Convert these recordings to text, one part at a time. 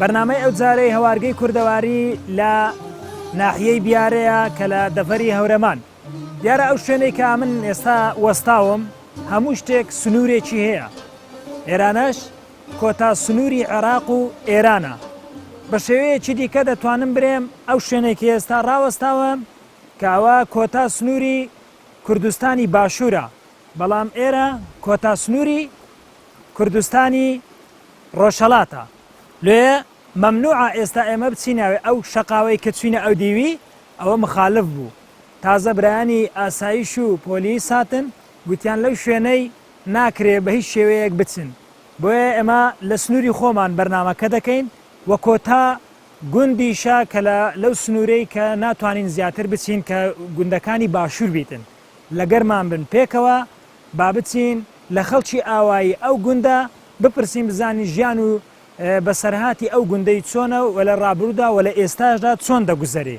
بەرنامەی ئەوجارەی هەوارگەی کوردەواری لە ناحیەی بیارەیە کە لە دەڤەری هەورەمان دیارە ئەو شوێنەی کە من ئێستا وەستاوم هەموو شتێک سنوورێکی هەیە ئێرانەش کۆتا سنووری عێراق و ئێرانە بە شێوەیەکی دیکە دەتوانم برێم ئەو شوێنێکی ئێستا ڕاوەستاوم کاوە کۆتا سنووری کوردستانی باشوورە بەڵام ئێرە کۆتا سنووری کوردستانی ڕۆژهەڵاتە لۆیە مەمنوعە ئێستا ئێمە بچیناوێ ئەو شەقاوەی کە چوینە ئەو دیوی ئەوە مخالف بوو تازە برایانی ئاسایش و پۆلیس هاتن گوتیان لەو شوێنەی ناکرێ بە هیچ شێوەیەک بچن بۆیە ئێمە لە سنووری خۆمان بەرنامەکە دەکەین و کۆتا گوندیشە کە لە لەو سنوورەی کە ناتوانین زیاتر بچین کە گوندەکانی باشوور بیتن لەگەرمان بن پێکەوە با بچین لە خەڵکی ئاوایی ئەو گوندە بپرسین بزانین ژیان و بەسەرهاتی ئەو گوندەی چۆنە و لە ڕابرودا و لە ئێستاشدا چۆن دەگوزەرێ.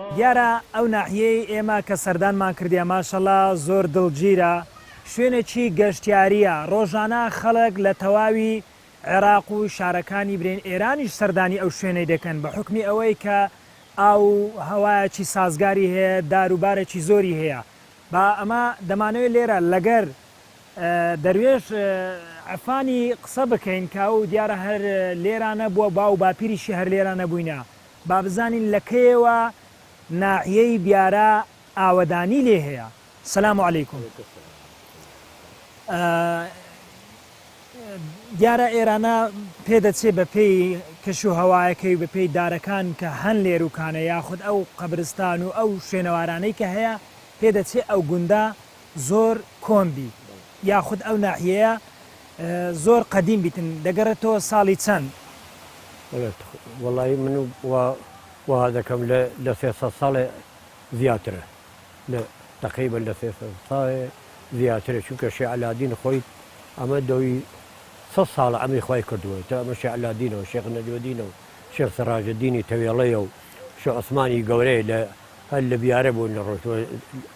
دیارە ئەو ناحیەی ئێمە کە سەردانمان کردیە ماشەڵا زۆر دڵگیرە، شوێنێکی گەشتیاریە، ڕۆژانە خەڵک لە تەواوی عێراق و شارەکانی برین ئێرانیش سەردانی ئەو شوێنەی دەکەن بە حوکمی ئەوەی کە ئاو و هەوایەکی سازگاری هەیە دار و بارێکی زۆری هەیە با ئەمە دەمانەوێت لێرە لەگەر دەروێش عەفانی قسە بکەین کە ئەو دیارە هەر لێرانە بووە باو و باپیریشی هەر لێرانە بووینە با بزانین لە کەیەوە ناحیەی بیارە ئاوەدانی لێ هەیە. سلام و علیکم دیارە ئێرانە پێدەچێ بە پێی کەش و هەوایەکەی بە پێی دارەکان کە هەن لێروکانە یاخود ئەو قەبرستان و ئەو شوێنەوارانەی کە هەیە پێدەچێ ئەو گوندە زۆر کۆن بی یاخود ئەو ناحیەیە زۆر قەدیم بیتن دەگەڕێتەوە ساڵی چەند؟ وەڵایی من وا دەکەم لە سێ سەد ساڵێ زیاترە تەقریبەن لە سێ سەد ساڵێ زیاترە چونکە شێخ عەلادین خۆی ئەمە دەوی سەد ساڵە ئەمی خوای کردووە تا ئەمە شێخ عەلادینە و شێخ نەجمەدینە و شێخ سەڕاجەدینی تەوێڵەیە و شێخ عوسمانی گەورەیە لە هەر لە بیارە بوون لە ڕۆژوە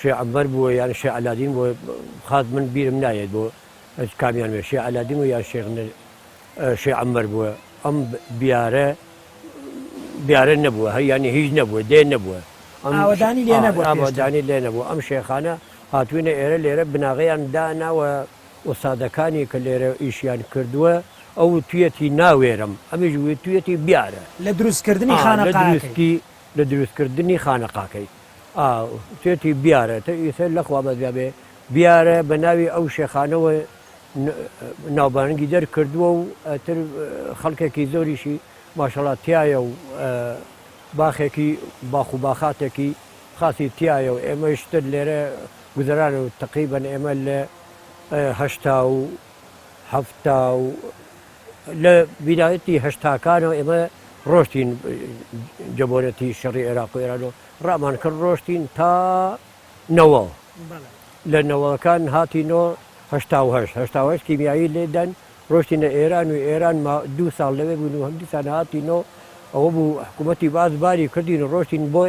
شێ عەمبەر بووە یان شێ عەلادین بووە خاس من بیرم نایەت بۆ کامیان بێ شێ عەلادین بوو یان شێخ نە شێ عەمبەر بووە ئەم بیارە بیارە نەبووە هەر یانی هیچ نەبووە دێ نەبووە ئاوەدانی لێ نەبووە ئاوەدانی لێ نەبوو ئەم شێخانە هاتوینە ئێرە لێرە بناغیان داناوە وسادەکانی کە لێرە ئیشیان کردووە ئەو تویەتی ناوێرم ئەمیش تویەتی بیارە لە دروستکردنی خانەقاکەی لە دروستکردنی خانەقاکەی ئا تێتی بیارە تە ئیسە لە خوا بەزیابێ بیارە بە ناوی ئەو شێخانەوە ناوبانگی دەرکردووە و تر خەڵکێکی زۆریشی ماشەڵات تایە و باخێکی باخ و باخاتێکی خاصی تایە و ئێمەشتر لێرە گوزەران و تقریبن ئێمە لە هەشتا و حەفتا و لە بیدایەتی هەشتاکانەوە ئێمە ڕۆشتین جەبۆنەتی شەڕی عێراق و ئێرانەوە ڕامان کرد ڕۆشتین تا نەوە لە نەوەکان هاتینەوە هەشتاهشتاهشت کیمیایی لێدەن ڕۆشتینە ئێران و ئێران دو ساڵ لەوێ بوون و هەمدیسان هاتینەوە ئەوە بوو حکوومەتتی باز باری کردین ڕۆشتین بۆ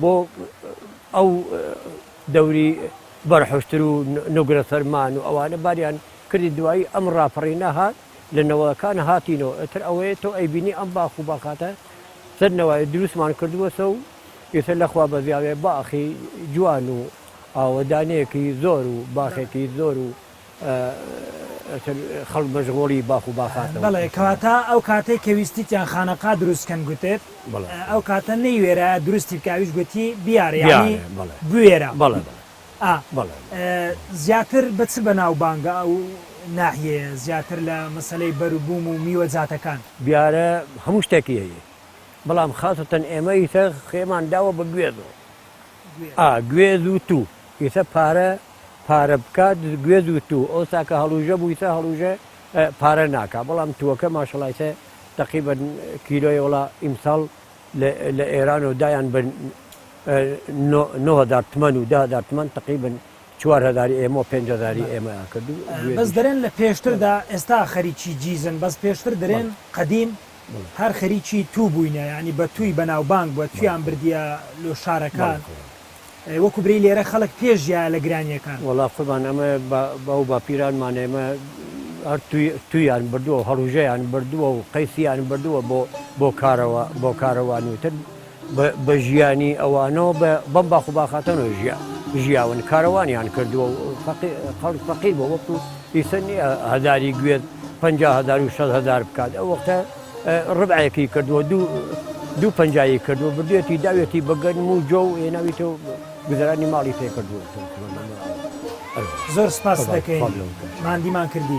بۆ ئەو دەوری بەرحوشتر و نوگرە فەرمان و ئەوانە باریان کردی دوایی ئەم ڕاپەڕینە هات لە نەوەکان هاتینەوە ئەتر ئەوەیە تۆ ئەیبینی ئەم باخ و باخاتە سەر نەوای دروستمان کردووەسە و ئێستا لەخوا بەزیاێ باخی جوان و ئاوەدانەیەکی زۆر و باخێکی زۆر و ئەتر خەڵک مەژغۆڵی باخ و باخاتەوە. بەڵێ کەواتە ئەو کاتەی کە ویستیتیان خانەقا دروست کەن گوتت ئەو کاتە نەیوێرایە دروستی بکە ئەویش گوتی بیارە یانی بوێرە بەڵێ ئا بەڵێ زیاتر بە چ بەناوبانگە ئەو ناحیەیە زیاتر لە مەسەلەی بەروبووم و میوەجاتەکان. بیارە هەموو شتێکی هەیە بەڵام خاسەتەن ئێمە ئیتر خێمان داوە بە گوێز و. ئا گوێز و توو یتە پارە پارە بکا گوێز و توو ئەوسا کە هەڵوژە بوویتە هەڵوژە پارە ناکا بەڵام تووەکە ماشەڵایتە تەقیبەت کیلۆی وڵا ئیمساڵ لە ئێران و دایان بە نۆهزار تمەن و دهزار تمەن تەقیبن چوار هەزاری ئێمە و پێنج هەزاری بەڵێ ئێمە ئەکرد و ئە بەس دوێنیش دەرێن لە پێشتر دا بەڵێ ئێستا خەریکی جیزن بەس پێشتر دەرێن بەڵێ قەدیم بەڵێ هەر خەریکی توو بووینە یانی بە تووی بەڵێ بەناو بانگ بووە بەڵێ توویان قوربان بردیە لۆ بەڵێ شارەکان قوربان ئە وەکوو برێی لێرە خەڵک پێ ژیایە لە گرانییەکان. وەڵا قوربان ئەمە با باو باپیرانمان ئێمە هەر تووی توویان بردووە و هەڵوژەیان بردووە و قەیسیان بردووە بۆ بۆ کارەوە بۆ کارەوانی تر. بە ژیانی ئەوانەوە بەم باخ و باخاتەنەوە ژیا ژیاون کارەوانیان کردووە و خەڵک فەقیر بۆ وەکو ئیسن هەداری گوێت پ هزار و شەد هزار بکات ئەو وەختە ڕبعەکی کردووە دوو دوو پنجایی کردووە بردوێتی داوێتی بەگەرم و جۆ و هێناویتە و گوزرانی ماڵی پێ کردووە زۆر سپاس دەکەین مادیمان کردی.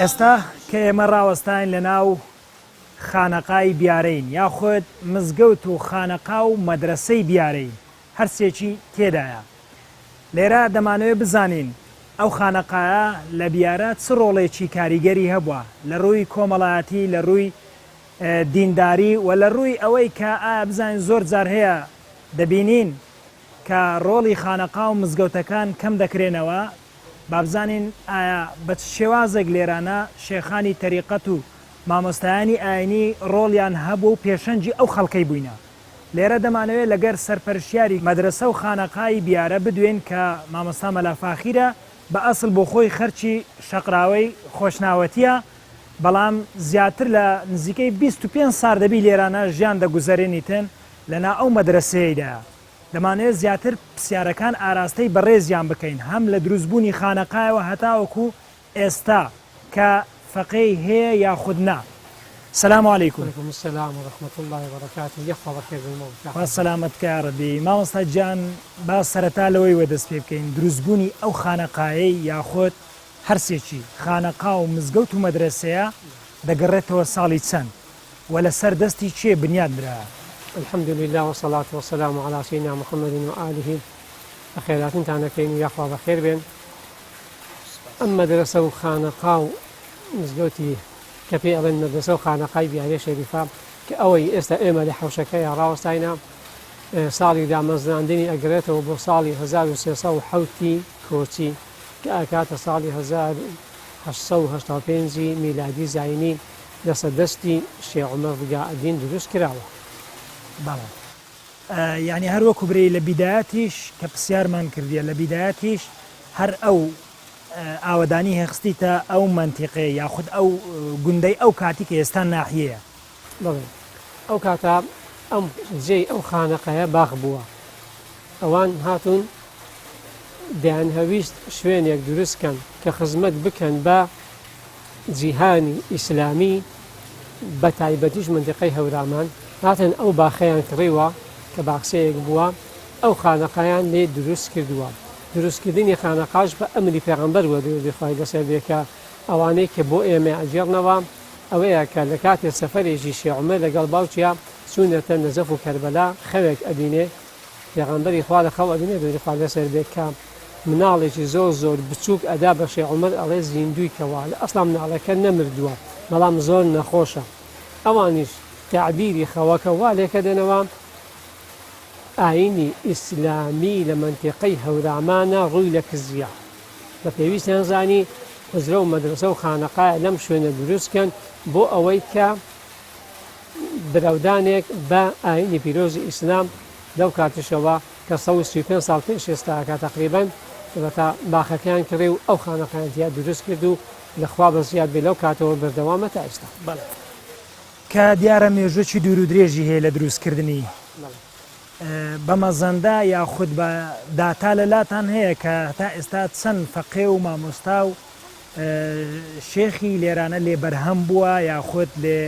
ئێستا کە ئێمە ڕاوەستاین لە ناو خانەقای بیارەین یاخود مزگەوت و خانەقا و مەدرەسەی بیارەین هەر سێکی تێدایە لێرە دەمانەوێت بزانین ئەو خانەقایە لە بیارە چ ڕۆڵێکی کاریگەری هەبووە لە ڕووی کۆمەڵایەتی لە ڕووی دینداری و لە ڕووی ئەوەی کە ئایا بزانین زۆر جار هەیە دەبینین کە ڕۆڵی خانەقا و مزگەوتەکان کەم دەکرێنەوە بابزانین ئایا بە چ شێوازێک لێرانە شێخانی تەریقەت و مامۆستایانی ئاینی ڕۆڵیان هەبووە و پێشەنگی ئەو خەڵکەی بووینە؟ لێرە دەمانەوێت لەگەر سەرپەرشیاری مەدرەسە و خانەقای بیارە بدوێین کە مامۆستا مەلا فاخیرە، بە ئەسڵ بۆ خۆی خەرکی شەقراوەی خۆشناوەتیە، بەڵام زیاتر لە نزیکەی بیست و پێنج سار دەبی لێرانە ژیان دەگوزەرێنیتن لە نا ئەو مەدرەسەیەیدایە. دەمانەوێت زیاتر پسیارەکان ئاراستەی بەڕێزیان بکەین هەم لە دروست بوونی خانەقایەوە هەتاوەکو ئێستا کە فەقێی هەیە یاخود نا. سلام علیکم. علیکم السلام و رحمت اللە و برکاته یەخوا بەخێر بێی مۆم شاخ. خوا سەلامەت کا یارەبی مامۆستا گیان با سەرەتا لەوەی وە دەست پێ بکەین دروست بوونی ئەو خانەقایەی یاخۆد هەرسێکی خانەقا و مزگەوت و مەدرەسەیە دەگەڕێتەوە ساڵی چەند وە لە سەر دەستی کێ بنیات نرا؟ الحمد للە وسەڵات وسەلام علی سیدنا محمد و آله بەخێراتنتان ئەکەین و یاخوا بەخێر بێن ئەم مەدرسە و خانەقا و مزگەوتی کە پێی ئەڵێن مەدرسە و خانەقای بیارێ شەریفە کە ئەوەی ئێستا ئێمە لە حوشەکەی ڕاوەستاینە ساڵی دامەزراندنی ئەگرێتەوە بۆ ساڵی 1970 کۆچی کە ئاکاتە ساڵی 1970 میلادی زینی دەسە دەستی شێ عومەر ڕگا ئەدین دروست کراوە بەڵێ. یانی هەر وەکو برێی لە بیدایەتیش کە پسیارمان کردیە لە بیدایەتیش هەر ئەو ئاوەدانی هێخستیتە ئەو مەنتیقێ یاخود ئەو گوندەی ئەو کاتی کە ئێستا ناحیەیە بڵێ ئەو کاتە ئەم جێی ئەو خانەقەیە باخ بووە ئەوان هاتوون دەیان هەویست شوێنێک دروستکەن کە خزمەت بکەن بە جیهانی ئیسلامی بە تایبەتیش مندقەی هەورامان هاتن ئەو باخەیان کڕیوە کە باخسەیەک بووە ئەو خانەقایان لێ دروست کردووە دروستکردنی خانەقاش بە ئەمری پێغمبەر وە دەخوای لەسەر بێکە ئەوانەی کە بۆ ئێمە ئەگەڕنەوە ئەوەیە کە لە کاتێ سەفەرێکی شێعمە لەگەڵ باوکیا چوونەتە نەزەف و کەربەلا خەوێک ئەبینێ پێغەمبەری خوا لە خەو ئەبینێ دەوری خوا لەسەر بێت کە مناڵێکی زۆر زۆر بچووک ئەدا بە شێ عمر ئەڵێ زیندوی کەوا لە ئەسڵام ناڵەکە نەمردووە بەڵام زۆر نەخۆشە ئەوانیش تعبیری خەوەکە وا لێکە دێنەوە ئاینی ئیسلامی لە منتیقەی هەورامانە ڕووی لە کزیە بە پێویستیان زانی حزرە و مەدرسە و خانەقای لەم شوێنە دروستکەن بۆ ئەوەی کە برەودانێک بە ئاینی پیرۆزی ئیسلام لەو کاتیشەوە کە سەد و سی و پێنج ساڵ پێش ئێستاکە تەقریبەن وەتا باخەکەیان کڕی و ئەو خانەقایان تیا دروست کرد و لە خوا بە زیاد بێ لەو کاتەوە بەردەوامە تا ئێستا بەڵێ کە دیارە مێژووێکی دوور و درێژی هەیە لە دروستکردنی بەڵێ بە مەزەندە یاخود بە داتا لە لاتان هەیە کە تا ئێستا چەند فەقێ و مامۆستا و شێخی لێرانە لێ بەرهەم بووە یاخود لێ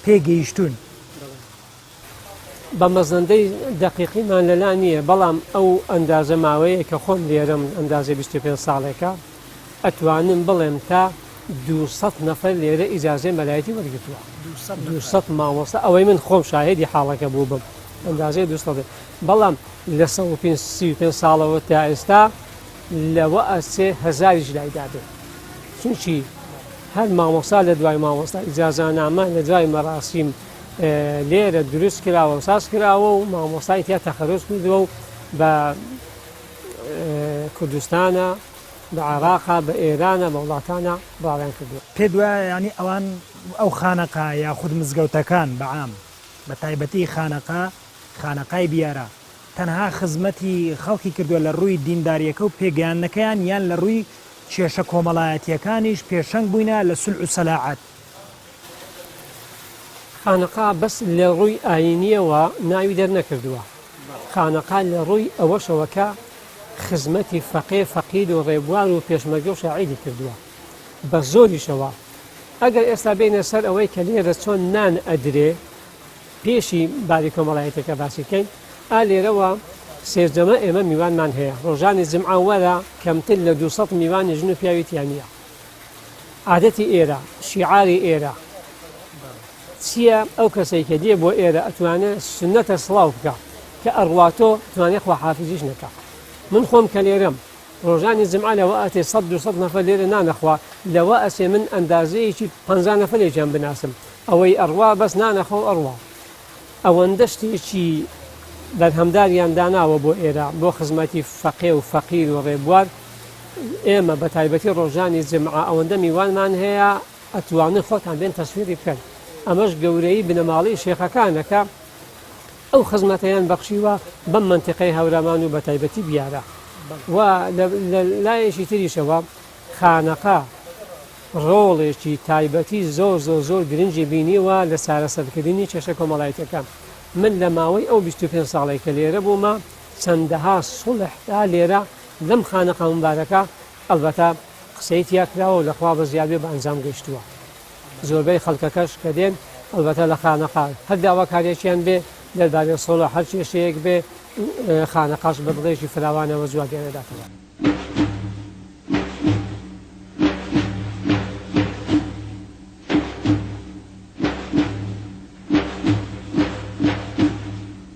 پێ گەیشتوون؟ بە مەزەندەی دەقیقیمان لەلا نییە بەڵام ئەو ئەندازە ماوەیە کە خۆم لێرم ئەندازە 25 ساڵێکە ئەتوانم بڵێم تا 200 نەفەر لێرە ئیجاازێ مەلایەتی وەرگتووە 200 مامۆستا ئەوەی من خۆم شاهدی حاڵەکە بوو بم ئەندازەیە دوستڵێ بەڵام لە 5 ساڵەوە تا ئێستا لەوەئ سێ هەزاریش لای دابێ چونکی هەر مامۆستا لە دوای مامۆستا ئیجازانامە لە دوای مەراسیم لێرە دروست کراوە و ساز کراوە و مامۆستای تیا تەخەرۆز کردووە و بە کوردستانە بە عراقا بە ئێرانە بە وڵاتانە باڵیان کردووە پێ دوایە ینی ئەوان ئەو خانەقا یاخود مزگەوتەکان بەعام بە تایبەتی خانەقا خانەقای بیارە تەنها خزمەتی خەڵکی کردوە لە ڕووی دینداریەکە و پێگەیاندنەکەیان یان لە ڕووی کێشە کۆمەڵایەتیەکانیش پێشەنگ بووینە لە سولح و سەلاعەت. خانەقا بەس لە ڕووی ئاینیەوە ناوی دەرنەکردوە خانەقا لە ڕووی ئەوەشەوە کە خزمەتی فەقێ فەقید و ڕێبوار و پێشمەرگە و شاعیری کردوە بە زۆریشەوە ئەگەر ئێستا بێینە سەر ئەوەی کە لێرە چۆن نان ئەدرێ پێشی بابی کۆمەڵایەتەکە باسی بکەین ئا لێرەوە سێرجەمە ئێمە میوانمان هەیە ڕۆژانی جمعە وەرە کەمتر لە 200 میوانی ژن و پیاوی تیانە عادەتی ئێرە شیعاری ئێرە چییە ئەو کەسێک کە دێ بۆ ئێرە ئەتوانێت سنەتە سڵاو بکە کە ئەڕواتۆ توانێت خواحافزیش نەکە من خۆم کە لێرەم ڕۆژانی جمعە لەوە ئەتێ سەد دوو سەد نەفەر لێرە نان ئەخوا، لەوە ئەچێ من ئەندازەیەکی پەنجا نەفەرێکیان بناسم ئەوەی ئەڕوا بەس نان ئەخوا و ئەڕوا. ئەوەندە شتێکی بەرهەمداریان داناوە بۆ ئێرە بۆ خزمەتی فەقێ و فەقیر و ڕێبوار. ئێمە بە تایبەتی ڕۆژانی جمعە ئەوەندە میوانمان هەیە ئەتوانن خۆتان بێن تەسویری بکەن. ئەمەش گەورەیی بنەماڵەی شێخەکانە کە. ئەو خزمەتەیان بەخشیوە بەم مەنتیقەی هەورامان و بەتایبەتی بیارە و لە لایەکی تریشەوە خانەقا ڕۆڵێکی تایبەتی زۆر زۆر زۆر گرنگی بینیوە لە چارەسەرکردنی کێشە کۆمەڵایەتەکان من لە ماوەی ئەو 25 ساڵێک کە لێرە بوومە چەندەها سڵحدا لێرە لەم خانەقا مبارەکە ئەلبەتە قسەی تیاکراوە و لەخوا بە زیادێ بە ئەنجام گەشتووە زۆربەی خەڵکەکەش کە دێن ئەڵبەتە لە خانەقا هەر داواکاریەکیان بێ دەربارەی سۆڵۆ هەر کێشەیەک بێ خانەقاش بە دڵێکی فراوانەوە جوابیان دەداتەوە.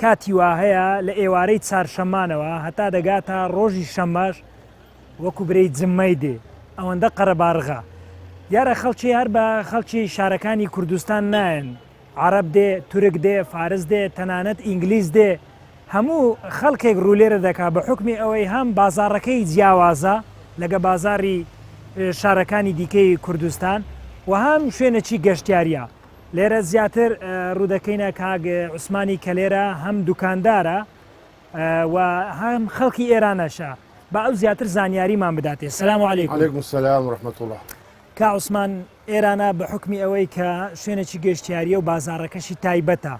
کاتی واهەیە لە ئێوارەی چارشەممانەوە هەتا دەگاتە ڕۆژی شەممەش وەکو برێی جممەی دێ ئەوەندە قەرەباڕغە. دیارە خەڵکی هەر بە خەڵکی شارەکانی کوردستان نایەن، عەڕەب دێ، تورک دێ، فارس دێ، تەنانەت ئینگلیز دێ، هەموو خەڵکێک ڕوو لێرە دەکا بە حوکمی ئەوەی هەم بازاڕەکەی جیاوازە لەگە بازاڕی شارەکانی دیکەی کوردستان و هەم شوێنەکی گەشتیاریە. لێرە زیاتر ڕوودەکەینە کاک عوسمانی کە لێرە هەم دوکاندارە و هەم خەڵکی ئێرانەشە بە ئەو زیاتر زانیاریمان بداتێ سلام و عليهلێکم سلام ڕحمەت الله کا عوسمان ئێرانە بە حکمی ئەوەی کە شوێنێکی گەشتیاریە و بازارەکەشی تایبەتە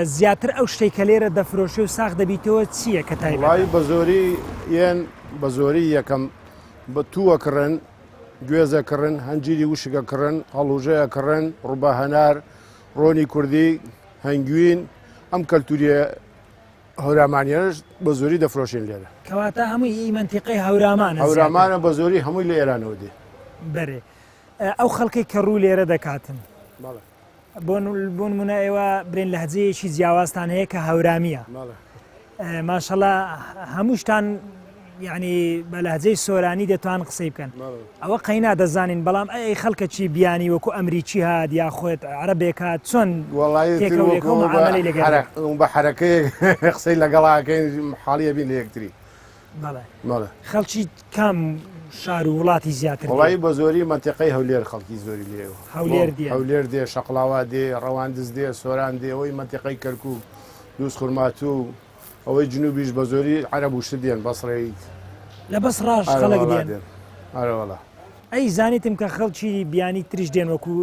زیاتر ئەو شتێک کە لێرە دەفرۆشێ و ساخ دەبیتەوە چییە کە تایبڵی بە زۆری یەن بە زۆری یەکەم بە تووەکڕن گوێز ئەکڕن، هەنجیری وشک ئەکڕن، هەڵوژە ئەکڕن، ڕوبا هەنار، ڕۆنی کوردی، هەنگوین، ئەم کەلتوریە هەورامانیانش بە زۆری دەفرۆشێن لێرە. کەواتە هەمووی هی مەنتیقەی هەورامانە زیاتر؟ هەورامانە بە زۆری هەمووی لە ئێرانەوە دێ. بەرێ ئەو خەڵکەی کە ڕوو لێرە دەکاتن. بەڵێ. بۆن منە ئێوە برێن لەهجەیەکی جیاوازتان هەیە کە هەورامیە ماشەڵە هەمووشتان یعنی بە لەهجەی سۆرانی دەتوان قسەی بکەن ئەوە قەینا دەزانین بەڵام ئەی خەڵکە چی بیانی وەکو ئەمریکی هاات یا خۆت عربێکات چۆن بە حرەکەی قسەی لەگەڵاکەین حاڵیە بین لە یەکتری خەڵکی کام شار و وڵاتی زیاتر وڵی بە زۆری منتیقی هەولێر خەڵکی زۆری لێ هەولێر هەولێر دێ شەقلاوا دێ ڕەواندز دێ سۆران دێ ئەوەی منتیقی کەرکک دووس خورماتوو ئەوەی جنوبیش بە زۆری عەرب وشت دێن بەسڕیت لە بەس ڕاش خەڵک دێن ئەرەوەڵە ئەی زانیتم کە خەڵکی بیانی تریش دێن وەکو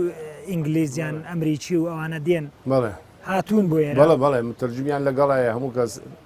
ئینگلیزیان ئەمریکی و ئەوانە دێن بەڵێ هاتوون بۆ بەڵە بەڵێ مترجمیان لەگەڵایە هەموو کەس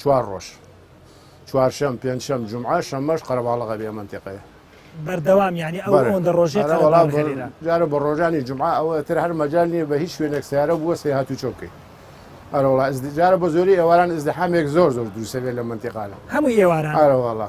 چوار ڕۆژ چوارشەم پێنجشەم جمعە شەمەش قەرەباڵغە بێ مەنتیقەیە بەردەوام یعنی ئەو بەرە. ئەوەندە ڕۆژێ ئەرە قەرەباڵغ وەڵام هێنرا. جارە بە ڕۆژانی جمعە ئەوە تر هەر مەجال نییە بە هیچ شوێنێک سیارە بووە سێ هاتوو چۆ بکەیت ئەرە وڵا جارە بە زۆری ئێواران ئزدحامێک زۆر زۆر دروسەبێت لە منتیقانە هەموو ئێواران ئارە وڵا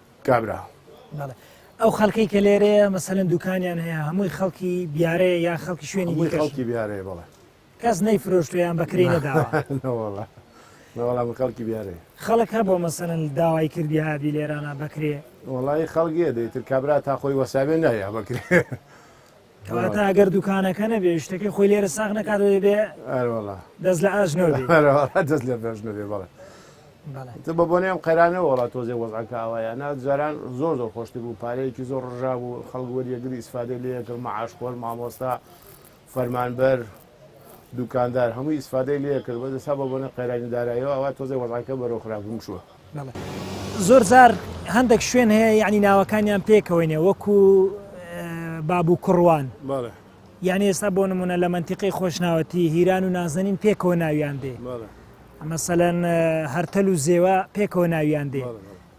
کابرا. بەڵێ ئەو خەلکەی کە لێرەیە مەسەن دوکانیان هەیە هەمووی خەڵکی بیارەیە یا خەڵکی شوێنی خەڵکی بیارەیە بەڵێ کەس نەی فرۆشتویان بەکری نەداوەڵە نەوەڵام خەڵکی بیارێ خەڵکە بۆ مەسەن داوای کردی هابی لێرانە بەکرێ وڵی خەڵگیە دەیتر کابرا تا خۆی وەساوێ نایە بەکرێ کەواتە ئەگەر دوکانەکە نەبێ شتەکەی خۆی لێرە ساغ نەکات دەبێ دەست لە ئاش نەبێ دەست لە بەش نەبێ بەڵێ بە بۆنێم قەرانەوە وڵا تۆزێ وەزعەکە ئاوایە نا جاران زۆر زۆر خۆشتی بوو پارەیەکی زۆر ڕژا بوو خەڵگوەریەگری ئیسفادە لەکرد معاش خۆر مامۆستا فەرمانبەر دوکاندار هەمووی ئیسفادەی لێ کرد بەس ئێستا بە بۆنە قەیرانی و دارایەوە ئەوا تۆزێ وەزعەکە بەرەو خراپبوون چووە. زۆر جار هەندەک شوێن هەیە یانی ناوەکانیان پێکەوەینێ وەکو باب و کوڕوان بەڵێ یانی ئێستا بۆ نمونە لە منتیقی خۆشناوەتی هیران و نازەنین پێکەوە ناویان دێ بەڵێ مەسەلەن هەرتەل و زێوە پێکەوە ناویان دێ بەڵێ بەڵێ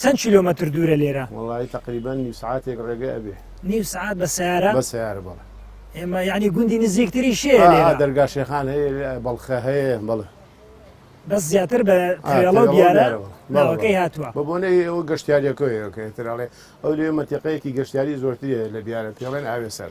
چەند کیلۆمەتر دوورە لێرە؟ وەڵایی تەقریبەن نیو سەعاتێک ڕێگە ئەبێ نیو سەعات بە سەیارە؟ بە سەیارە بەڵێ ئێمە یعنی گوندی نزیکتری شێ دەرگا شێخان هەیە بەڵخە هەیە بەڵێ بەس زیاتر بە ترێڵە دیارە ناوەکەی هاتووە بە بۆنەی ئەوە گەشتیاریەکەیەکەتراڵێ ئەو لێ مەتیقەیەکی گەشتیاری زۆرترە لە بیارە پێڵێن ئاوێ سەر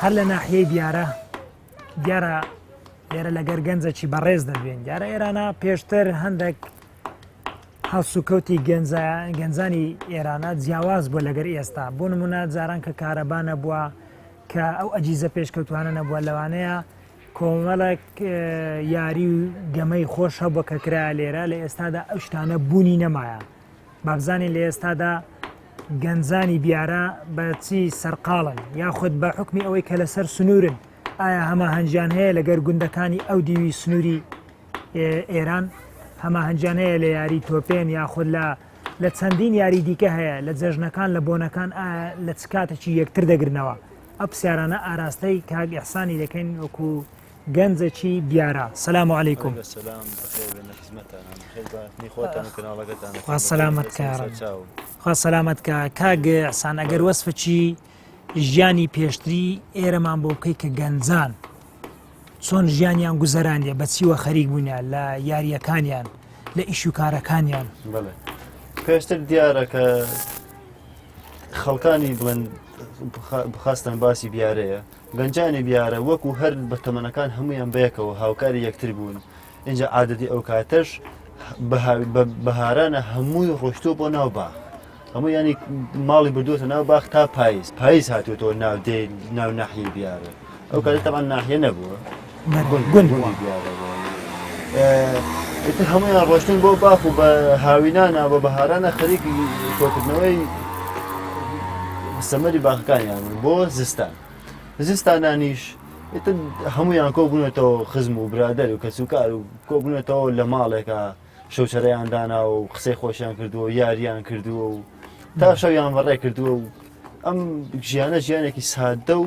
هەر لە ناحیەی دیارە دیارە لێرە لەگەر گەنجەکی بەڕێز دەدوێن دیارە ئێرانە پێشتر هەندێک هەڵسوکەوتی گەنجانی ئێرانە جیاواز بووە لەگەر ئێستا بۆ نمونە جاران کە کارەبانە بووە کە ئەو ئەجیزە پێشکەوتوانە نەبووە لەوانەیە کۆمەڵک یاری و گەمەی خۆش هەبووە کە کرا لێرە لە ئێستادا ئەو شتانە بوونی نەمایە بابزانین لە ئێستادا گەنجانی بیارە بە چی سەرقاڵن یاخود بە حکمی ئەوەی کە لەسەر سنوورن ئایا هەماهەنگیان هەیە لەگەر گوندەکانی ئەو دیوی سنووری ئێران هەماهەنگیان هەیە لە یاری تۆپێن یاخود لە لە چەندین یاری دیکە هەیە لە جەژنەکان لە بۆنەکان لە چ کاتێکی یەکتر دەگرنەوە ئەو پرسیارانە ئاراستەی کاگ ئەحسانی دەکەین وەکو گەنجەکی دیارە سلام و علیکم سەلامەت کە کاگەسان ئەگەر وەسفچی ژیانی پێشتری ئێرەمان بۆ بکەی کە گەنجان چۆن ژیانیان گوزەرانە بەچیوە خەریک بوونیان لە یاریەکانیان لە ئیش و کارەکانیان پێشتر دیارە کە خەڵکانی بڵێن بخواستن باسی بیارەیە گەنجانی بیارە وەکو هەر بە تەمەنەکان هەمویان بەیەکەوە هاوکاری یەکتر بوون ئینجا عادەتی ئەو کاتەش بەهارانە هەمووی ڕۆشتۆ بۆ ناو باخ هەموو ینی ماڵی بردووە ناو باخ تا پاییز پاییز هاتوێتەوە ناو دێ ناو ناحیە بیارە ئەو کاری تەمان ناحیە نەبووە گوند بووە. ئیتر هەموویان ڕۆشتن بۆ باخ و بە هاوینانە بە بەهارانە خەریکی کۆکردنەوەی سەمەری باخەکانیان بۆ زستان. زستانانیش ئیتر هەمویان کۆبوونەتەوە خزم و برادەر و کەسوکار و کۆبوونەتەوە لە ماڵێکە شەوچەرەیان دانا و قسەی خۆشیان کردووە و یاریان کردووە و تا شەویان بەڕێ کردووە و ئەم ژیانە ژیانێکی سادە و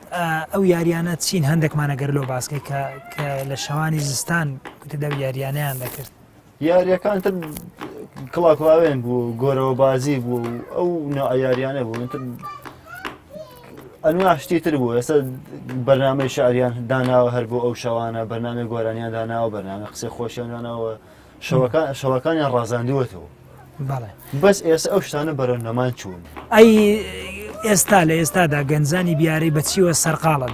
ئەو یاریانە چین هەندێکمانە گەر لۆ باسکەی کە کە لە شەوانی زستان کوتدا یاریانیان دەکرد یاریەکان تر کڵاکڵاوێن بوو گۆرەوە بازی بوو ئەو نائیاریانە بوو تر ئەنوا شتی تر بوو ئێستا بەرنمەی شاریان داناوە هەر بۆ ئەو شەوانە بەرنامی گۆرانیان داناوە بەرنامە قسە خۆشیان داناوە شەوەکانیان ڕازاندووەتەوە بەس ئێستا ئەو شتانە بەرەو نەمان چوون ئەی ئێستا لە ئێستادا گەنجانی بیارەی بەچیوە سەرقاڵن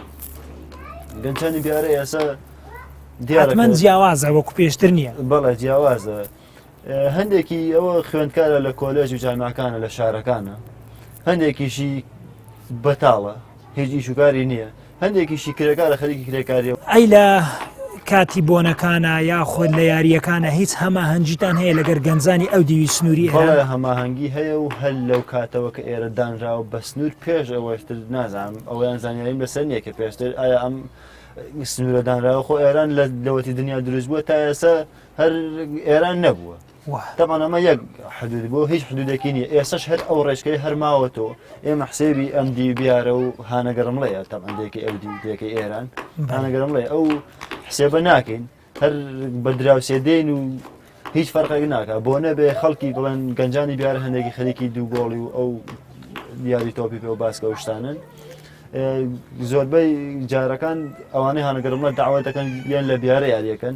گەنجانی بیارە ئێسا دیارمەند جیاوازە وەکو پێشتر نییە بەڵێ جیاوازە هەندێکی ئەوە خوێندکارە لە کۆلێژ و جامعەکانە لە شارەکانە هەندێکیشی بەتاڵە هیچ ئیشوگاری نییە هەندێکیشی کرێکارە خەریکی کرێکاریە. ئەی لە کاتی بۆنەکانە یاخۆد لە یارییەکانە هیچ هەماهەنگیتان هەیە لەگەر گەنجانی ئەو دیوی سنووری هەیە هەماهەنگی هەیە و هەر لەو کاتەوە کە ئێرە دانراوە بە سنوور پێش ئەوەشتر نازانم ئەویان زانیاریم لەسەر نییە کە پێشتر ئایا ئەم سنوورە دانراوە خۆ ئێران لە لەوەتی دنیا دروست بووە تا ئێستا هەر ئێران نەبووە تەبعەن ئەمە یەک حدود بوو هیچ حدودێکی نیە ئێسش هەر ئەو ڕێچکەی هەرماوەتەوە ئێمە حسێبی ئەم دی بیارە و هانەگەرمڵەیە تەبندێکی ئەو دیکەی ئێران هانەگەرمڵێ ئەو حسێبە ناکەین هەر بە دراوسێ دێن و هیچ فەرقێک ناکە بۆ نەبێ خەڵکی بڵێن گەنجانی بیار هەندێکی خەریکی دوو گۆڵی و ئەو دیاری تۆپی پێ و باسکە و شتانن زۆربەی جارەکان ئەوانەی هەنەگەرمە داوا دەکەن یان لە بیارە یاریەکەن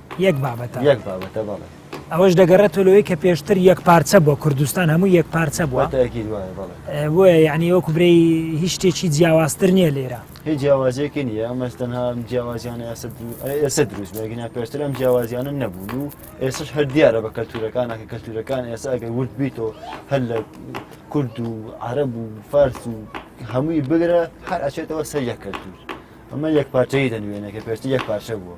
یەک بابەتە یەک بابەتە بەڵێ ئەوەش دەگەڕێتەوە لەوەی کە پێشتر یەک پارچە بۆ کوردستان هەموو یەک پارچە بووە تاکی دوایە بەڵێ ئێ، بۆیە یعنی وەکو برێی هیچ شتێکی جیاوازتر نییە لێرە هیچ جیاوازیەکی نییە ئەمەش تەنها ئەم جیاوازیانە ئێستا درو- ئە- ئێستا دروست بەگینا پێشتر ئەم جیاوازیانە نەبوون و ئێسش هەر دیارە بە کەلتورەکانە کە کەلتورەکان ئێستا ئەگەر ورد بیتەوە هەر لە کورد و عرب و فارس و هەمووی بگرە هەر ئەچێتەوە سەر یەک کەلتور ئەمە یەک پارچەی دەنوێنێ کە پێشتر یەک پارچە بووە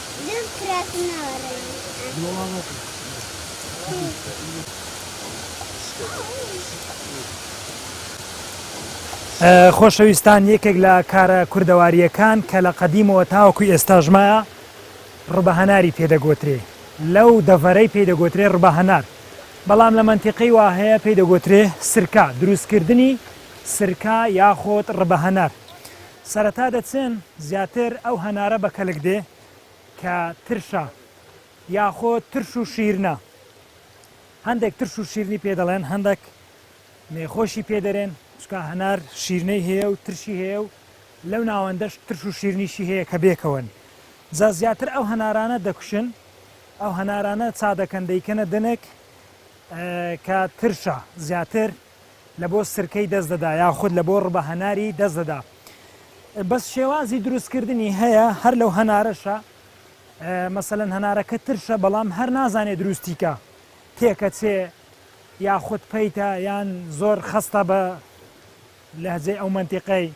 دەست کراسم ناوە ڕێ خۆشەویستان یەکێک لە کارە کوردەوارییەکان کە لە قەدیمەوە تاوەکو ئێستاژمایە ڕبە هەناری پێدەگوترێ لەو دەڤەرەی پێدەگوترێ ڕبە هەنار بەڵام لە منتیقی وا هەیە پێدەگوترێ سرکە دروستکردنی سرکە یاخۆت ڕبە هەنار سەرەتا دەچن زیاتر ئەو هەنارە بە کەلک دێ کە ترشە یاخۆ ترش و شیرنە هەندێک ترش و شیرنی پێ دەڵێن هەندێک مێخۆشی پێ دەرێن چکا هەنار شیرنەی هەیە و ترشی هەیە و لەو ناوەندەش ترش و شیرنیشی هەیە کە بێکەوەن جا زیاتر ئەو هەنارانە دەکوشن ئەو هەنارانە چا دەکەن دەیکەنە دنێک کە ترشە زیاتر لە بۆ سرکەی دەست دەدا یاخود لە بۆ ڕبە هەناری دەست دەدا بەس شێوازی دروستکردنی هەیە هەر لەو هەنارەشە مەسەەن هەنارەکە ترشە بەڵام هەر نازانێت دروستیکە تێکەچێ یاخود پیتە یان زۆر خستە بە لەهجێ ئەو منتیقەی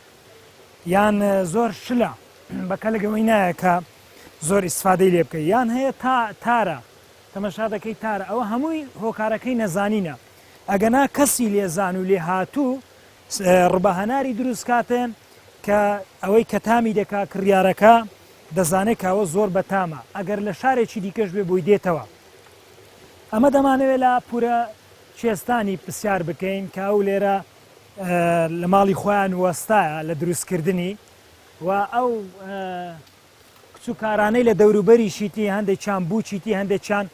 یان زۆر شلە بەکە لەگەوەی نایە کە زۆر ئیسفادەی لێ بکە یان هەیە تا تارە تەمەشا دەکەی تارە ئەوە هەمووی هۆکارەکەی نەزانینە ئەگەنا کەسی لێزان و لێهاتوو ڕبە هەناری دروست کاتێ کە ئەوەی کە تامی دەکا کڕیارەکە دەزانێت کاوە زۆر بەتامە ئەگەر لە شارێکی دیکەش بێ بۆی دێتەوە ئەمە دەمانەوێت لە پورە چێستانی پرسیار بکەین کە ئەو لێرە لە ماڵی خۆیان وەستایە لە دروستکردنی و ئەو کچ و کارانەی لە دەوروبەری شیتی هەندێک چیان بوو چیتی هەندێک چیان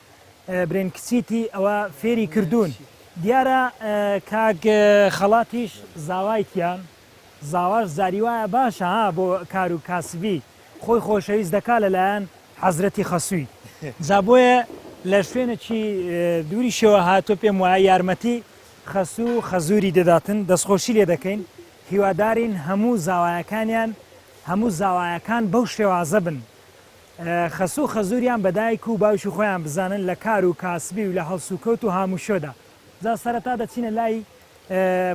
برێن کچیتی ئەوە فێری کردوون دیارە کاک خەڵاتیش زاوایتیان زاواش زاری وایە باشە ها بۆ کار و کاسبی خۆی خۆشەویست دەکا لەلایەن حەزرەتی خەسووی جا بۆیە لە شوێنێکی دووری شێوە هاتۆ پێم وایە یارمەتی خەسوو خەزووری دەداتن دەستخۆشی لێ دەکەین هیوادارین هەموو زاوایەکانیان هەموو زاوایەکان بەو شێوازە بن خەسوو خەزووریان بە دایک و باوکی خۆیان بزانن لە کار و کاسبی و لە هەڵسوکەوت و هاموشۆدا جا سەرەتا دەچینە لای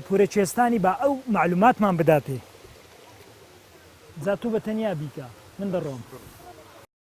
پورە کوێستانی با ئەو معلوماتمان بداتێ جا تو بە تەنیا بیکە من دەڕۆم.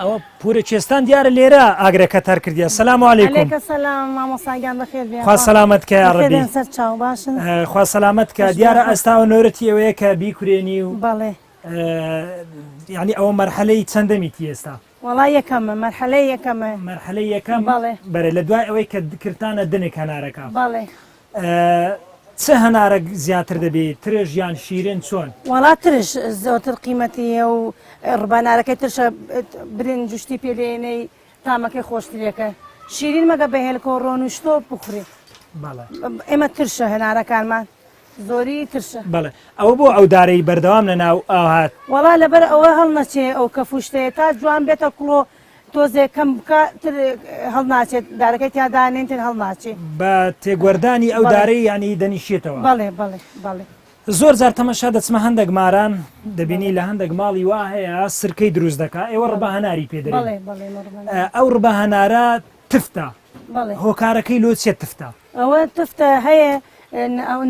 ئەوە پورە چێستان دیارە لێرە ئاگرەکە تەر کردیە سلام علیکمسلامامۆساگیانخوا سلامت کە ڕێبێن سەر چاو باشن خوا سلامت کە دیارە ئەستا و نۆرەتی ئەوەیە کە بیکورێنی و بەڵێ یعنی ئەوە مەرحەلەی چەندەمی تێستا وڵا یەکەمە مەرحەلەی یەکەمە مەرحەلەی یەکەم بەڵێ بەرە لە دوای ئەوەی کە کردانە دنێک هەنارەکە بەڵێ چ هەنارەک زیاتر دەبی ترش یان شیرن چۆن؟ وەڵا ترش زۆرتر قیمەتی هەیە و ڕبانارەکەی ترشە برنج و شتی پێ دێنەی تامەکەی خۆشترێکە شیرین مەگە بە هێلکۆ ڕۆن و شتۆ بخورێ ئێمە ترشە هەنارەکانمان زۆری ترشە بەڵێ ئەوە بۆ ئەو دارەی بەردەوام لە ناو ئاهات وەڵا لەبەر ئەوە هەڵنەچێ ئەو کە فوشتەیە تا جوان بێتە کوڵۆ تۆزێ کەم بکە تر هەڵناچێت دارەکەی تیا دانێن تر هەڵناچێ. بە تێگوەردانی ئەو بەڵێ دارەی یانی دەنیشێتەوە. بەڵێ بەڵێ بەڵێ. زۆر جار تەمەشا دەچمە هەندەک ماران دەبینی بەڵێ. لە هەندەک ماڵی وا هەیە سرکەی دروست دەکا ئێوە ڕبە بەڵێ هەناری پێ دەرێن بەڵێ بەڵێ مە ڕبە ئە هەناری. ئەو ڕبە هەنارە تفتە بەڵێ. هۆکارەکەی لۆ چیە تفتە؟ ئەوە تفتە هەیە ئە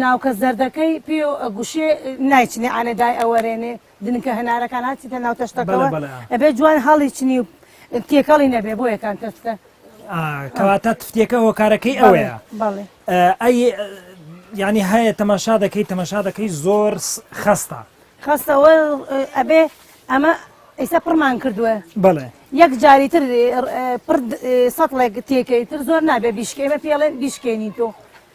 ناوکە زەردەکەی پێ ئە گوشێ نایچنێ عەنە دای ئەوەرێنێ دنکە هەنارەکان هەرچیتە ناو تەشتەکەوە ئەبێ جوان هەڵیچنی و تێکەڵی نەبێ بۆ یەکان تەشتە کەواتە تفتێکە هۆکارەکەی ئەوەیە ئەی ینی هەیە تەماشا دەکەی تەماشا دەکەی زۆر خستە خستەوە ئەبێ ئەمە ئیسا پڕمان کردووە بڵێ یەک جاری تر سەڵێک تێکەی تر زۆر نابێ بیشکێمە پێڵێن بیشکێنی تۆ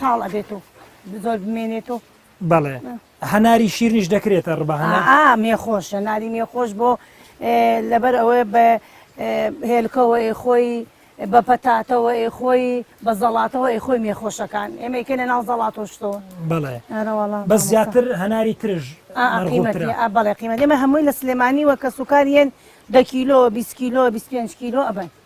تاڵ ئەبێت و زۆر بمێنێت و بەڵێ هەناری شیرنیش دەکرێتە ڕبە مێ خۆش هەناری مێ خۆش بۆ لەبەر ئەوەیە بە هێلکەوە خۆی بە پەتاتەوە ئێ خۆی بە زەڵاتەوە ئێ خۆی مێ خۆشەکان ئێمەکە لە ناو زەڵاتۆشتەوە بڵێ بە زیاتر هەناری ترژ بەڵێ قیمە ئێمە هەمووی لە سلێمانی وە کە سوکاریان دە کیلۆ 20 کیلۆ 25 کیلۆ ئەبن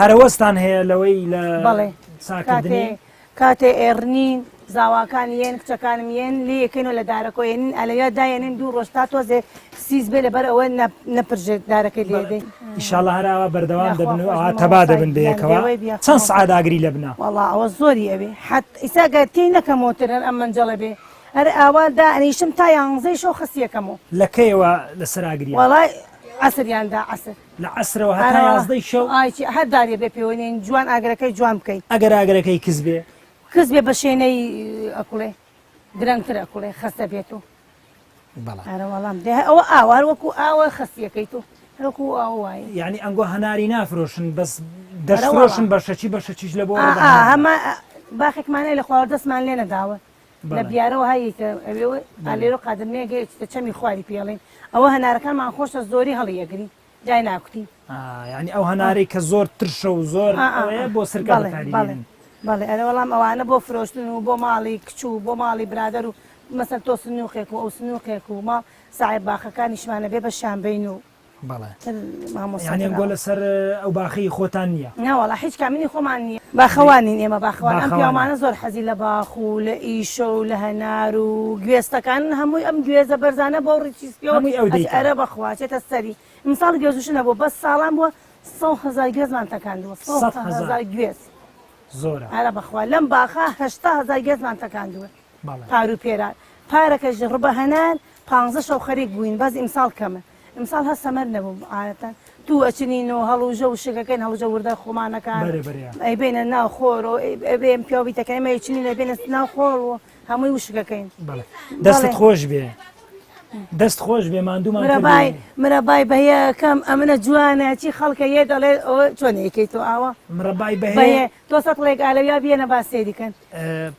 هەرەوەزتان هەیە لەوەی لە بەڵێ ساکردنی؟ کاتێ کاتێ ئێڕنین زاواکان یێن کچەکانم یێن لێ یەکەینەوە لە دارەکۆ یێنین ئەلەویا دایێنین دوو ڕۆژ تا تۆزێ سیز بێ لەبەر ئەوە نەپرژێت دارەکەی لێ دەین ئیشاڵە هەراوە بەردەوام یاخوا دەبن و خۆش ئەوە بە تەبا مامۆستای دەبن گیان بەیەکەوە دێوەی بیا چەند خەمە. سەعات ئاگری لە بنە؟ وەڵا ئەوە زۆری ئەوێ حەت ئیسا گەر تێی نەکەمەوەتر هەر ئەم مەنجەڵە بێ هەر ئاوا دانیشم تا یانزەی شەو خەسیەکەمەوە لە کەیەوە لەسەر ئاگریان؟ وەڵای عەسریان دا عەسر لە عەسرەوە هەتا یازدەی شەو. ئای چی هەر دارێ بێ پێوەی نین جوان ئاگرەکەی جوان بکەی. ئەگەر ئاگرەکەی کز بێ. کز بێ بە شێنەی ئەکوڵێ درەنگتر ئەکوڵێ خەستە بێت و. بەڵێ. ئەرە وەڵام دێ ئەوە ئاوە هەر وەکو ئاوە خەستیەکەی تۆ. هەر وەکو ئاو وایە. یانی ئەنگۆ هەناری نافرۆشن بەس دەشفرۆشن بە شەکی بە شەکیش لە بۆ. ئا ئا هەمان باخێکمان هەیە لە خواوەردەستمان لێ نەداون. لە بیارەوە هەیە کە ئەوێ ئالێرۆ قادر نێ گەیشتە چەمی خواری پێڵین ئەوە هەنارەکانمان خۆشە زۆری هەڵی ئەگری جای ناکوتی یعنی ئەو هەنارەی کە زۆر ترشە و زۆر بۆ سرکە بەڵێ ئەرە وەڵام ئەوانە بۆ فرۆشتن و بۆ ماڵی کچ و بۆ ماڵی برادەر و مەسەر تۆ سنووقێک و ئەو سنووقێک و ماڵ ساعێ باخەکانیشمانە بێ بە شانبین و بەڵێ یانی ئەم گۆلە سەر ئەو باخەی خۆتان نییە؟ نەوەڵا هیچ کام منی خۆمان نییە باخەوان نین ئێمە باخەوان ئەم پیاوانە زۆر حەزی لە باخ و لە ئیشە و لە هەنار و گوێستەکان هەمووی ئەم گوێزە بەرزانە بۆ ڕیچی سپیەوە هەمووی ئەو دەیکا ئەرە بەخوا چێتە سەری ئیمساڵ گوێزوشە نەبووە بەس ساڵان بووە سەد هەزار گوێزمان تەکاندووە سەد هەزار گوێز زۆرە ئەرە بەخوا لەم باخە هەشتا هەزار گوێزمان تەکاندووە. پارو پێران پارەکەش ڕبە هەنار پانزە شەو خەریک بووین بەس ئیمساڵ کەمە ئمساڵ هە سەمەر نەبووم عادەتەن دوو ئەچنین و هەڵوژە و شەکەکەین هەڵوژە وردە خۆمانەکان ئەی بینە ناو خۆر و ئەبێم پیاوی تەکەی مە چنین ئەبێنە ناو خۆڵ و هەمووی وشکەکەین دەست خۆش بێ دەست خۆش بێ مادوومانبای مرەبای بەیەکەم ئەمنە جوانە چی خەڵکە یە دەڵێ چۆن یەکەی تۆ ئاوە مرەبای بە تۆ سەڵێک ئالەویا بێنە با سێریکەن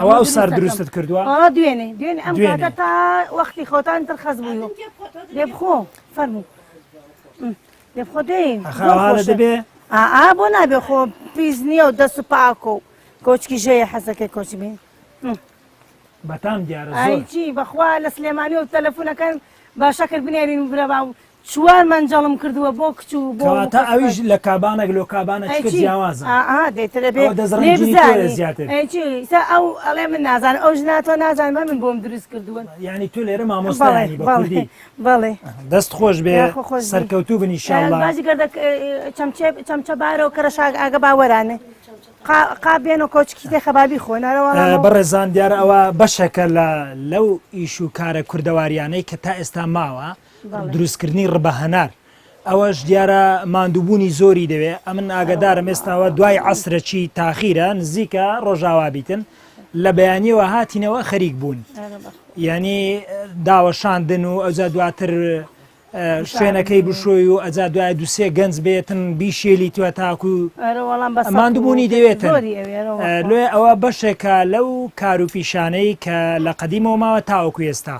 ئەوە ئەو سار دروستت کردووە دوێنێ دوێنێ ئەم کاتە تا وەختی خۆتان تر خەز بوو لێ بخۆ فەرموو لێ بخۆ دێ دەبێ ئا بۆ نابێ خۆ پیس نییە و دەست و پاکۆ و کۆچکی ژەیە حەزەکەی کۆچ بێ بەتام دیارە چی بەخوا لە سلێمانی و تەلەفونەکەن باشە کرد بنێرین برەبا و چوار مەنجەڵم کردوە بۆ کچ و بۆ کەواتە ئەویش لە کابانەک لۆ کابانە چکە جیاوازە دەترە بێ زیاتر ئەو ئەڵێ من نازان ئەو ژنا تۆ نازان بە من بۆم دروست کردوون ینی تو لێرە مامۆستای بەڵێ دەست خۆش بێ سەرکەوتوو بنی شانبازی گردە چەمچە بارەوە کەرە شاگ ئاگە باوەرانێ قابێن و کۆچکی تێ خەبابی خۆنەرەوە بەڕێزان دیارە ئەوە بەشەکە لە لەو ئیش و کارە کوردەواریانەی کە تا ئێستا ماوە دروستکردنی ڕبە هەنار ئەوەش دیارە ماندووبوونی زۆری دەوێ ئەمن ئاگدارم ئێستاوە دوای عسرەکی تاخیرە نزیکە ڕۆژاوا بیتن لە بەیانیەوە هاتینەوە خەریک بوون ینی داوەشاندن و ئەوجا دواتر شوێنەکەی بشۆی و ئەجا دوای دوسێ گەنج بێتن بیشێلی توە تاکو مادبوونی دەوێت لێ ئەوە بەشێکە لەو کار و پیشانەی کە لە قەدیمەوە ماوە تاوەکو ئێستا.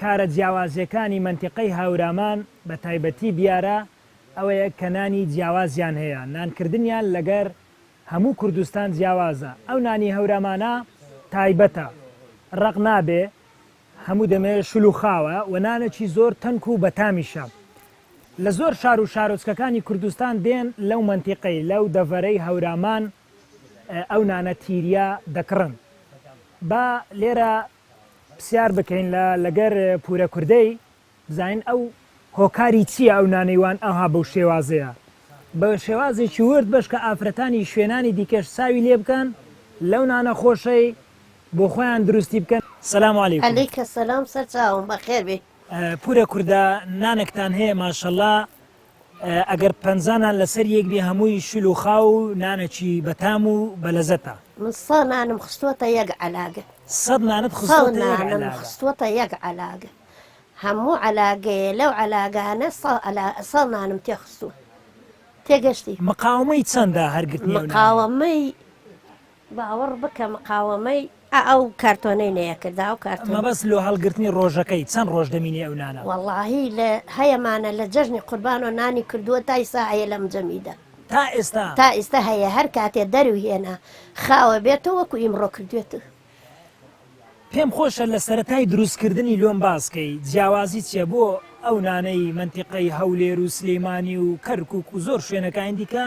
کارە جیاوازەکانی مەنتیقەی هاورامان بە تایبەتی بیارە ئەوەیە کە نانی جیاوازیان هەیە نان کردنیان لەگەر هەموو کوردستان جیاوازە ئەو نانی هەورامانە تایبەتە ڕەق نابێ هەموو دەمێ شلوخاوە و نانەکی زۆر تەنک و بەتامیشە لە زۆر شار و شارۆچکەکانی کوردستان دێن لەو مەنتیقەی لەو دەڤەرەی هەورامان ئەو نانە تیریە دەکڕن با لێرە پسیار بکەین لە لەگەر پورە کوردەی بزانین ئەو هۆکاری چییە ئەو نانەی وان ئەوها بەو شێوازەیە بە شێوازێکی ورد بەش کە ئافرەتانی شوێنانی دیکەش ساوی لێ بکەن لەو نانە خۆشەی بۆ خۆیان دروستی بکەن سلام علیکم. علیک سلام سەرچاوم بەخێر بێی. پورە کوردە نانەکتان هەیە ماشەڵا ئەگەر پەنجا نان لەسەر یەک بێ هەمووی شل و خاو و نانەکی بەتام و بەلەزەتە. من سەد نانم خستووەتە یەک عەلاگە. سەد نانت خستووەتە یەک عەلاگە. سەد نانم خستووەتە یەک عەلاگە. هەموو عەلاگەیێ لەو عەلاگانە سەد نانم تێ خستووە. تێگەشتی؟ مقاومەی چەندە هەر گرتنی ئەو نانە؟ مقاومەی باوەڕ بکە مقاوەمەی ئەو کارتۆنەی نەیەکرد ئەو کارتۆنە. مەبەست لۆ هەڵگرتنی ڕۆژەکەی چەند ڕۆژ دەمینێ ئەو نانە؟ وەڵاهی لە هەیە مانە لە جەژنی قوربانۆ نانی کردووە تا ئیستا هەیە لەم جەمیدە. تا ئێستا؟ تا ئیستا هەیە هەر کاتێ دەرو هێنا خاوە بێتۆ وەکو ئیمڕۆ کردوێتو. پێم خۆشە لە سەرەتای دروست کردنی لۆم باس کەی جیاوازی چیە بۆ ئەو نانەی مەنتیقەی هەولێرو سلیمانی و کەرکوک و زۆر شوێنەکانی دیکە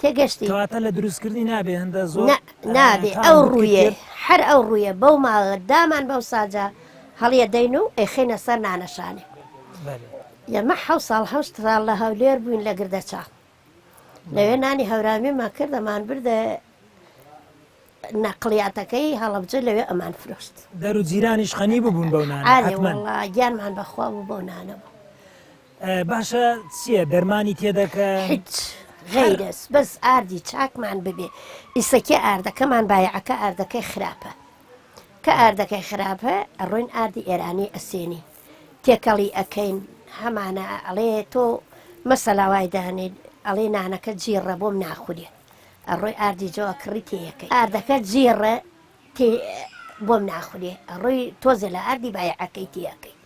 تێگەشتی. کەواتە لە دروستکردنی نابێ هندە زۆر. نا نابێ ئەو ڕوویە هەر ئەو ڕوویە بەو ماڵە دامان بەو ساجە هەڵیە دەین و ئەیخینە سەر نانەشانێ یەمە حە ساڵ هەشت ساڵ لە هەولێر بووین لە گردە چاڵ لەوێ نانی هەورامیمان کردەمان بردە نەقلیاتەکەی هەڵبجە لەوێ ئەمان فرۆشت دەرو جیرانیش خەنی ببوون بەو گیانمان بەخوا بوو بەو نانەبوو باشە چیە دەرمانی تێدەکەن؟ هیچ غەیرەز بەس ئاردی چاکمان ببێ ئیسەکی ئاردەکەمان بایەعەکە ئاردەکەی خراپە کە ئاردەکەی خراپە ئەڕۆین ئاردی ئێرانی ئەسێنی تێکەڵی ئەکەین هەمانە ئەڵێ تۆ مەسەلا وای دانێ ئەڵێ نانەکە جیڕە بۆم ناخورێ ئەڕۆی ئاردی جۆ کڕی تێیەکەی ئاردەکە جیڕە تێ بۆم ناخورێ ئەڕۆی تۆزێ لە ئاردی بایعەکەی تێ ئەکەی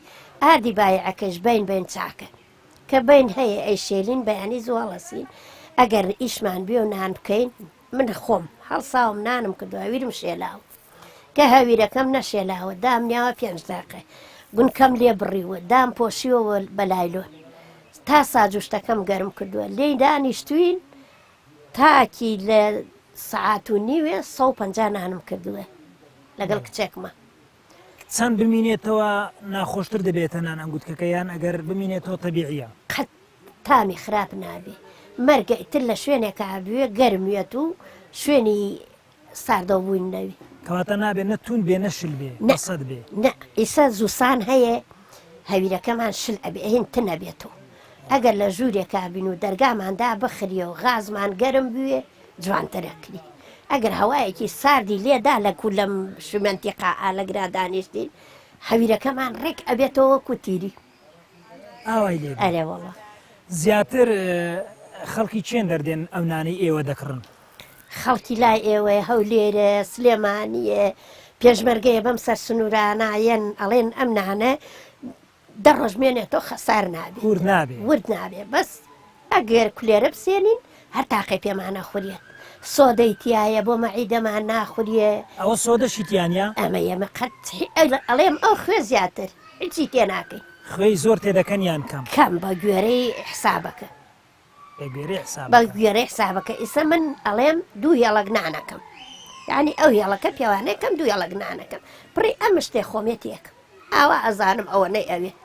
ئاردی بایعەکەش بەین بەین چاکە کە بەین هەیە ئەی شێلین بەیانی زوو هەڵەسین ئەگەر ئیشمان بێ و نان بکەین من خۆم هەڵساوم نانم کردو هەویرم شێلاوە کە هەویرەکەم نەشێلاوە دام نیاوە پێنج داقێ گونکەم لێ بڕیوە دام پۆشیوە بە لایلۆن تا ساجوشتەکەم گەرم کردووە لێی دانیشتوین تاکی لە سەعات و نیوێ سەد و پەنجا نانم کردووێ لەگەڵ کچێکمە. چەند بمینێتەوە ناخۆشتر دەبێتە نان ئەنگوتکەکە یان ئەگەر بمینێتەوە تەبیعیە؟ قەت تامی خراپ نابێ مەرگە ئیتر لە شوێنێکا بوێ گەرم وێت و شوێنی ساردەو بووین ناوی. کەواتە نابێ نە توند بێ نە شل بێ نە سەد بێ نە ئیسە زوسان هەیە هەویرەکەمان شل ئەبێ هین تنە بێتەوە ئەگەر لە ژوورێکا بین و دەرگاماندا بخریە و غازمان گەرم بوێ جوانترە کری ئەگەر هەوایەکی ساردی لێدا لە کو لەم شمەنتیقا ئالەگرا دانیشتین هەویرەکەمان ڕێک ئەبێتەوە وەکو تیری ئاوای لێ بێ. ئەرێ وەڵا. زیاتر خەڵکی چێن دەردێن ئەو نانەی ئێوە دەکڕن؟ خەڵکی لای ئێوەیە، هەولێرە، سلێمانییە، پێشمەرگەیە بەم سەر سنوورانە یەن ئەڵێن ئەم نانە دە ڕۆژ مێنێتەوە خەسار نابێ. ورد نابێ. ورد نابێ بەس. ئەگەر کولێرە بسێنین هەر تاقەی پێمان ئەخوریێت سۆدەی تیایە بۆ مەعیدەمان ناخوریێ. ئەوە سۆدەشی تیا نیە؟ ئەمە یەمە قەت هی ئەڵێم ئەو خوێ زیاتر هیچی تێ ناکەی. خوێی زۆر تێ دەکەن یان کەم؟ کەم بە گوێرەی حسابەکە. بە گوێرەی حسابەکە. بە گوێرەی حسابەکە ئیسە من ئەڵێم دوو هێڵەک نان ئەکەم یانی ئەو هێڵەکە پێوانەکەم دوو هێڵەک نان ئەکەم پڕی ئەم مشتێ خۆمێ تێکم ئاوا ئەزانم ئەوە نەی ئەوێت.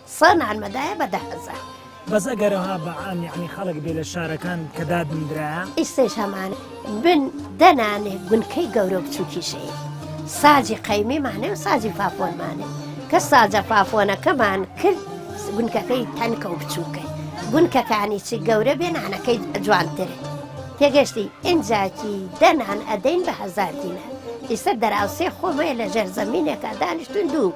سە نانمە دایە بە دە هەزار. بەس ئەگەر ئەوها بە عام یەعنی خەڵک بێ لە شارەکان کە دادندرایە. ئیستەیش هەمان بن دە نانێ گونکەی گەورەو بچوکیش هەیە ساجی قەیمی مانێ و ساجی فافۆن مانێ کە ساجە فافۆنەکەمان کرد گونکەکەی تەنکە و بچووکە گونکەکانی چی گەورە بێ نانەکەی جوانترێ تێگەشتی ئینجاکی دەنان ئەدەین بە هەزار دینە ئیسە دەراوسێ خۆمەیە لە ژێر زەمینێکە دانیشتون دوو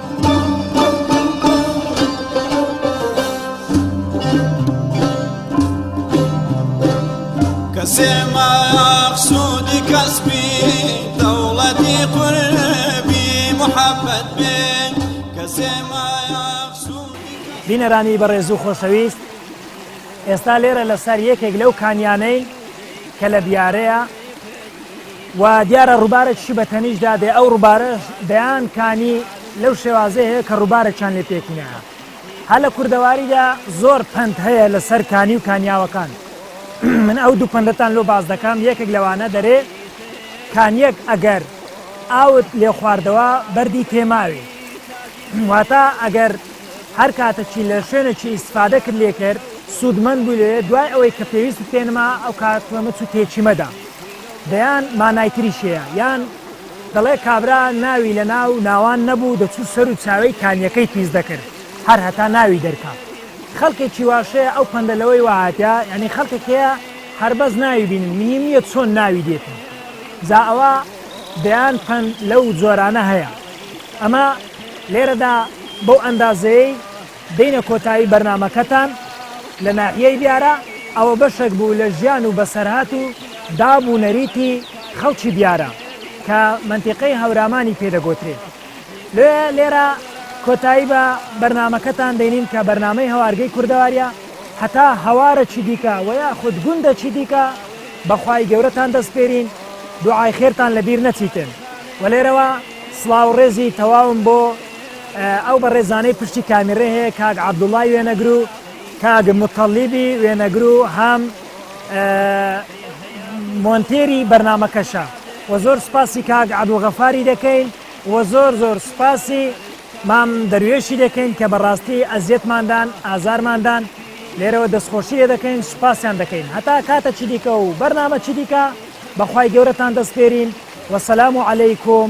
کەسێ مەقسودی کەسبی دەوڵەتی قوربی محەبەت بێ کەسێ بینەرانی بەڕێز و خۆشەویست ئێستا لێرە لەسەر یەکێک لەو کانیانەین کە لە بیارەیە وا دیارە ڕووبارێکیشی بە تەنیشت دا دێ، ئەو ڕووبارەش دەیان کانی لەو شێوازەی هەیە کە ڕووبارێکیان لێ پێکی نایە. هەر لە کوردەواریدا زۆر پەند هەیە لە سەر کانی و کانیاوەکان. من ئەو دوو پەندەتان لۆ باس دەکەم، یەکێک لەوانە دەرێ، کانییەک ئەگەر ئاوت لێ خواردەوە بەردی تێ ماوی. واتە ئەگەر هەر کاتەکی لە شوێنێکی ئیستفادەکت لێ کرد، سوودمەند بووی لێ، دوای ئەوەی کە پێویستت پێ نەما، ئەو کاتە مەچ و تێکی مەدە. دەیان مانای تریش هەیە یان دەڵێ کابرا ناوی لە ناو ناوان نەبوو دەچوو سەر و چاوێی کانیەکەی پیس دەکرد هەر هەتا ناوی دەرکا خەلکێکی واش هەیە ئەو پەندە لەوەی وا هاتە یانی خەلکێک هەیە هەر بەس ناوی بینن مهیم نیە چۆن ناوی دێتن جا ئەوە دەیان پەند لەو جۆرانە هەیە ئەمە لێرەدا بەو ئەندازەیەی دێینە کۆتایی بەرنامەکەتان لە ناحیەی بیارە، ئەوە بەشێک بوو لە ژیان و بەسەرهات و داب و نەریتی خەڵکی بیارە کە مەنتیقەی هەورامانی پێ دەگۆترێ. لێ لێرە کۆتایی بە بەرنامەکەتان دێنین کە بەرنامەی هەوارگەی کوردەواریە، هەتا هەوارەکی دیکە وە یاخود گوندەکی دیکە بە خوای گەورەتان دەسپێرین، دوعای خێرتان لە بیر نەچیتن. وە لێرەوە سڵاو و ڕێزی تەواوم بۆ ئەو بەڕێزانەی پشتی کامیڕێ هەیە کاک عەبدوڵای وێنەگر و کاک متەڵیبی وێنەگر و هەم مۆنتێری بەرنمەکەشە و زۆر سپاسی کاک عبدوغەفاری دەکەین و زۆر زۆر سپاسی مام دەروێشی دەکەین کە بەڕاستی ئەزیەتماندان ئازارماندان لێرەوە دەستخۆشی لێ دەکەین سوپاسیان دەکەین هەتا کاتە چی دیکە و بەرنامە چی دیکە بەخوای گەورەتان دەستپێرین وەسەلام و عەلەیکم